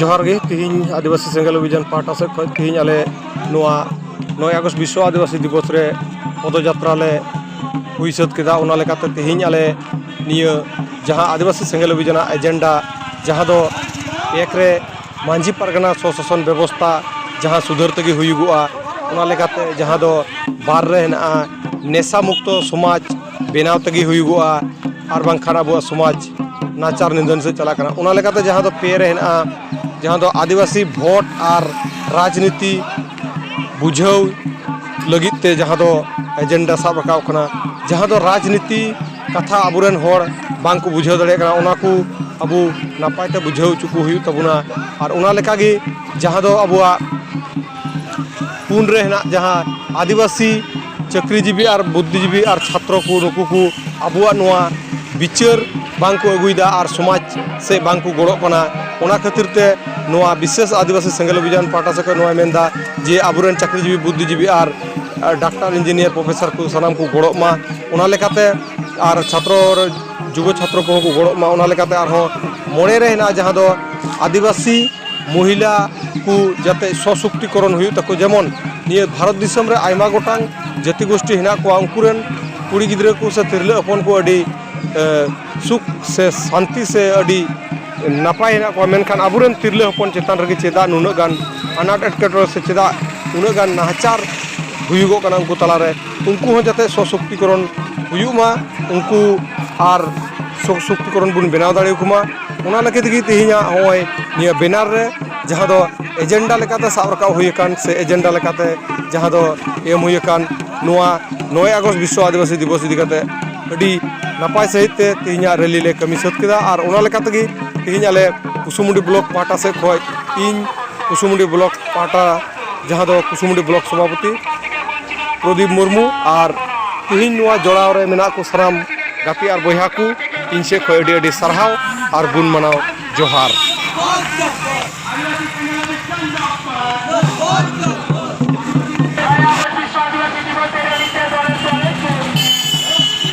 ᱡᱚᱦᱟᱨ ᱜᱮ ᱛᱮᱦᱮᱧ ᱟᱹᱫᱤᱵᱟᱹᱥᱤ ᱥᱮᱸᱜᱮᱞ ᱚᱵᱷᱤᱡᱟᱱ ᱯᱟᱦᱴᱟ ᱥᱮᱫ ᱠᱷᱚᱱ ᱛᱮᱦᱮᱧ ᱟᱞᱮ ᱱᱚᱣᱟ ᱱᱚᱭ ᱟᱜᱚᱥᱴ ᱵᱤᱥᱥᱚ ᱟᱹᱫᱤᱵᱟᱹᱥᱤ ᱫᱤᱵᱚᱥ ᱨᱮ ᱯᱚᱫᱚ ᱡᱟᱛᱨᱟ ᱞᱮ ᱦᱩᱭ ᱥᱟᱹᱛ ᱠᱮᱫᱟ ᱚᱱᱟ ᱞᱮᱠᱟᱛᱮ ᱛᱮᱦᱮᱧ ᱟᱞᱮ ᱱᱤᱭᱟᱹ ᱡᱟᱦᱟᱸ ᱟᱹᱫᱤᱵᱟᱹᱥᱤ ᱥᱮᱸᱜᱮᱞ ᱚᱵᱷᱤᱡᱟᱱᱟᱜ ᱮᱡᱮᱱᱰᱟ ᱡᱟᱦᱟᱸ ᱫᱚ ᱮᱠ ᱨᱮ ᱢᱟᱹᱡᱷᱤ ᱯᱟᱨᱜᱟᱱᱟ ᱥᱚᱥᱟᱥᱚᱱ ᱵᱮᱵᱚᱥᱛᱷᱟ ᱡᱟᱦᱟᱸ ᱥᱩᱫᱷᱟᱹᱨ ᱛᱮᱜᱮ ᱦᱩᱭᱩᱜᱚᱜᱼᱟ ᱚᱱᱟ ᱞᱮᱠᱟᱛᱮ ᱡᱟᱦᱟᱸ ᱫᱚ ᱵᱟᱨ ᱨᱮ ᱦᱮᱱᱟᱜᱼᱟ ᱱᱮᱥᱟ ᱢᱩᱠᱛᱚ ᱥᱚᱢᱟᱡᱽ ᱵᱮᱱᱟᱣ ᱛᱮᱜᱮ ᱦᱩᱭᱩᱜᱚᱜᱼᱟ ᱟᱨ ᱵᱟᱝᱠᱷᱟᱱ ᱟᱵᱚᱣᱟᱜ ᱥᱚᱢᱟᱡᱽ ᱱᱟᱪᱟᱨ ᱱᱤᱫᱷᱟᱹᱱ ᱥᱮᱫ ᱪᱟᱞᱟᱜ ᱠᱟᱱᱟ ᱚᱱᱟ ᱞᱮᱠᱟᱛᱮ ᱡᱟᱦᱟᱸ ᱫᱚ ᱯᱮ ᱨᱮ ᱦᱮᱱᱟᱜᱼᱟ ᱡᱟᱦᱟᱸ ᱫᱚ ᱟᱹᱫᱤᱵᱟᱹᱥᱤ ᱵᱷᱳᱴ ᱟᱨ ᱨᱟᱡᱽᱱᱤᱛᱤ ᱵᱩᱡᱷᱟᱹᱣ ᱞᱟᱹᱜᱤᱫ ᱛᱮ ᱡᱟᱦᱟᱸ ᱫᱚ ᱮᱡᱮᱱᱰᱟ ᱥᱟᱵ ᱨᱟᱠᱟᱵ ᱠᱟᱱᱟ ᱡᱟᱦᱟᱸ ᱫᱚ ᱨᱟᱡᱽᱱᱤᱛᱤ ᱠᱟᱛᱷᱟ ᱟᱵᱚᱨᱮᱱ ᱦᱚᱲ ᱵᱟᱝᱠᱚ ᱵᱩᱡᱷᱟᱹᱣ ᱫᱟᱲᱮᱭᱟᱜ ᱠᱟᱱᱟ ᱚᱱᱟ ᱠᱚ ᱟᱵᱚ ᱱᱟᱯᱟᱭ ᱛᱮ ᱵᱩᱡᱷᱟᱹᱣ ᱦᱚᱪᱚ ᱠᱚ ᱦᱩᱭᱩᱜ ᱛᱟᱵᱚᱱᱟ ᱟᱨ ᱚᱱᱟ ᱞᱮᱠᱟᱜᱮ ᱡᱟᱦᱟᱸ ᱫᱚ ᱟᱵᱚᱣᱟᱜ ᱯᱩᱱ ᱨᱮ ᱦᱮᱱᱟᱜ ᱡᱟᱦᱟᱸ ᱟᱹᱫᱤᱵᱟᱹᱥᱤ ᱪᱟᱹᱠᱨᱤᱡᱤᱵᱤ ᱟᱨ ᱵᱩᱫᱽᱫᱷᱤᱡᱤᱵᱤ ᱟᱨ ᱪᱷᱟᱛᱨᱚ ᱠᱚ ᱱᱩᱠᱩ ᱠᱚ ᱟᱵᱚᱣᱟᱜ ᱱᱚᱣᱟ ᱵᱤᱪᱟᱹᱨ ᱵᱟᱝ ᱠᱚ ᱟᱹᱜᱩᱭᱮᱫᱟ ᱟᱨ ᱥᱚᱢᱟᱡᱽ ᱥᱮ ᱵᱟᱝ ᱠᱚ ᱜᱚᱲᱚᱜ ᱠᱟᱱᱟ ᱚᱱᱟ ᱠᱷᱟᱹᱛᱤᱨ ᱛᱮ ᱱᱚᱣᱟ ᱵᱤᱥᱮᱥ ᱟᱹᱫᱤᱵᱟᱹᱥᱤ ᱥᱮᱸᱜᱮᱞ ᱚᱵᱷᱤᱡᱟᱱ ᱯᱟᱦᱴᱟ ᱥᱮᱫ ᱠᱷᱚᱱ ᱱᱚᱣᱟᱭ ᱢᱮᱱᱫᱟ ᱡᱮ ᱟᱵᱚᱨᱮᱱ ᱪᱟᱹᱠᱨᱤᱡᱤᱵᱤ ᱵᱩᱫᱽᱫᱷᱤᱡᱤᱵᱤ ᱟᱨ ᱰᱟᱠᱛᱟᱨ ᱤᱧᱡᱤᱱᱤᱭᱟᱨ ᱯᱨᱚᱯᱷᱮᱥᱟᱨ ᱠᱚ ᱥᱟᱱᱟᱢ ᱠᱚ ᱜᱚᱲᱚᱜ ᱢᱟ ᱚᱱᱟ ᱞᱮᱠᱟᱛᱮ ᱟᱨ ᱪᱷᱟᱛᱨᱚ ᱡᱩᱵᱚ ᱪᱷᱟᱛᱨᱚ ᱠᱚᱦᱚᱸ ᱠᱚ ᱜᱚᱲᱚᱜ ᱢᱟ ᱚᱱᱟ ᱞᱮᱠᱟᱛᱮ ᱟᱨᱦᱚᱸ ᱢᱚᱬᱮ ᱨᱮ ᱦᱮᱱᱟᱜᱼᱟ ᱡᱟᱦᱟᱸ ᱫᱚ ᱟᱹᱫᱤᱵᱟᱹᱥᱤ ᱢᱚᱦᱤᱞᱟ ᱠᱚ ᱡᱟᱛᱮ ᱥᱚᱥᱚᱠᱛᱤᱠᱚᱨᱚᱱ ᱦᱩᱭᱩᱜ ᱛᱟᱠᱚ ᱡᱮᱢᱚᱱ ᱱᱤᱭᱟᱹ ᱵᱷᱟᱨᱚᱛ ᱫᱤᱥᱚᱢ ᱨᱮ ᱟᱭᱢᱟ ᱜᱚᱴᱟᱝ ᱡᱟᱹᱛᱤ ᱜᱳᱥᱴᱤ ᱦᱮᱱᱟᱜ ᱠᱚᱣᱟ ᱩᱱᱠᱩ ᱨᱮᱱ ᱠᱩᱲᱤ ᱜᱤᱫᱽᱨᱟᱹ ᱠᱚ ᱥᱮ ᱛᱤᱨᱞᱟᱹ ᱦᱚᱯᱚᱱ ᱠᱚ ᱟᱹᱰᱤ ᱥᱩᱠ ᱥᱮ ᱥᱟᱱᱛᱤ ᱥᱮ ᱟᱹᱰᱤ ᱱᱟᱯᱟᱭ ᱦᱮᱱᱟᱜ ᱠᱚᱣᱟ ᱢᱮᱱᱠᱷᱟᱱ ᱟᱵᱚᱨᱮᱱ ᱛᱤᱨᱞᱟᱹ ᱦᱚᱯᱚᱱ ᱪᱮᱛᱟᱱ ᱨᱮᱜᱮ ᱪᱮᱫᱟᱜ ᱱᱩᱱᱟᱹᱜ ᱜᱟᱱ ᱟᱱᱟᱴ ᱮᱴᱠᱮᱴᱚᱬᱮ ᱥᱮ ᱪᱮᱫᱟᱜ ᱩᱱᱟᱹᱜ ᱜᱟᱱ ᱱᱟᱦᱟᱪᱟᱨ ᱦᱩᱭᱩᱜᱚᱜ ᱠᱟᱱᱟ ᱩᱱᱠᱩ ᱛᱟᱞᱟᱨᱮ ᱩᱱᱠᱩ ᱦᱚᱸ ᱡᱟᱛᱮ ᱥᱚᱥᱚᱠᱛᱤᱠᱚᱨᱚᱱ ᱦᱩᱭᱩᱜ ᱢᱟ ᱩᱱᱠᱩ ᱟᱨ ᱥᱚᱥᱚᱠᱛᱤᱠᱚᱨᱚᱱ ᱵᱚᱱ ᱵᱮᱱᱟᱣ ᱫᱟᱲᱮ ᱟᱠᱚ ᱢᱟ ᱚᱱᱟ ᱞᱟᱹᱜᱤᱫ ᱜᱮ ᱛᱮᱦᱮᱧᱟᱜ ᱱᱚᱜᱼᱚᱭ ᱱᱤᱭᱟᱹ ᱵᱮᱱᱟᱨ ᱨᱮ ᱡᱟᱦᱟᱸ ᱫᱚ ᱮᱡᱮᱱᱰᱟ ᱞᱮᱠᱟᱛᱮ ᱥᱟᱵ ᱨᱟᱠᱟᱵ ᱦᱩᱭ ᱟᱠᱟᱱ ᱥᱮ ᱮᱡᱮᱱᱰᱟ ᱞᱮᱠᱟᱛᱮ ᱡᱟᱦᱟᱸ ᱫᱚ ᱮᱢ ᱦᱩᱭ ᱟᱠᱟᱱ ᱱᱚᱣᱟ ᱱᱚᱭᱮ ᱟᱜᱚᱥᱴ ᱵᱤᱥᱥᱚ ᱟᱹᱫᱤᱵᱟᱹᱥᱤ ᱫᱤᱵᱚᱥ ᱤᱫᱤ ᱠᱟᱛᱮ ᱟᱹᱰᱤ ᱱᱟᱯᱟᱭ ᱥᱟᱺᱦᱤᱡ ᱛᱮ ᱛᱮᱦᱮᱧᱟᱜ ᱨᱮᱞᱤ ᱞᱮ ᱠᱟᱹᱢᱤ ᱥᱟᱹᱛ ᱠᱮᱫᱟ ᱟᱨ ᱚᱱᱟ ᱞᱮᱠᱟ ᱛᱮᱜᱮ ᱛᱮᱦᱮᱧ ᱟᱞᱮ ᱠᱩᱥᱩᱢᱩᱰᱤ ᱵᱞᱚᱠ ᱯᱟᱦᱴᱟ ᱥᱮᱫ ᱠᱷᱚᱱ ᱤᱧ ᱠᱩᱥᱩᱢᱩᱰᱤ ᱵᱞᱚᱠ ᱯᱟᱦᱴᱟ ᱡᱟᱦᱟᱸ ᱫᱚ ᱠᱩᱥᱩᱢᱩᱰᱤ ᱵᱞᱚᱠ ᱥᱚᱵᱷᱟᱯᱚᱛᱤ ᱯᱨᱚᱫᱤᱯ ᱢᱩᱨᱢᱩ ᱟᱨ ᱛᱮᱦᱮᱧ ᱱᱚᱣᱟ ᱡᱚᱲᱟᱣ ᱨᱮ ᱢᱮᱱᱟᱜ ᱠᱚ ᱥᱟᱱᱟᱢ ᱜᱟᱛᱮ ᱟᱨ ᱵᱚᱭᱦᱟ ᱠᱚ ᱤᱧ ᱥᱮᱫ ᱠᱷᱚᱱ ᱟᱹᱰᱤ ᱟᱹᱰᱤ ᱥᱟᱨᱦᱟᱣ ᱟᱨ ᱜᱩᱱ ᱢᱟᱱᱟᱣ ᱡᱚᱦᱟᱨ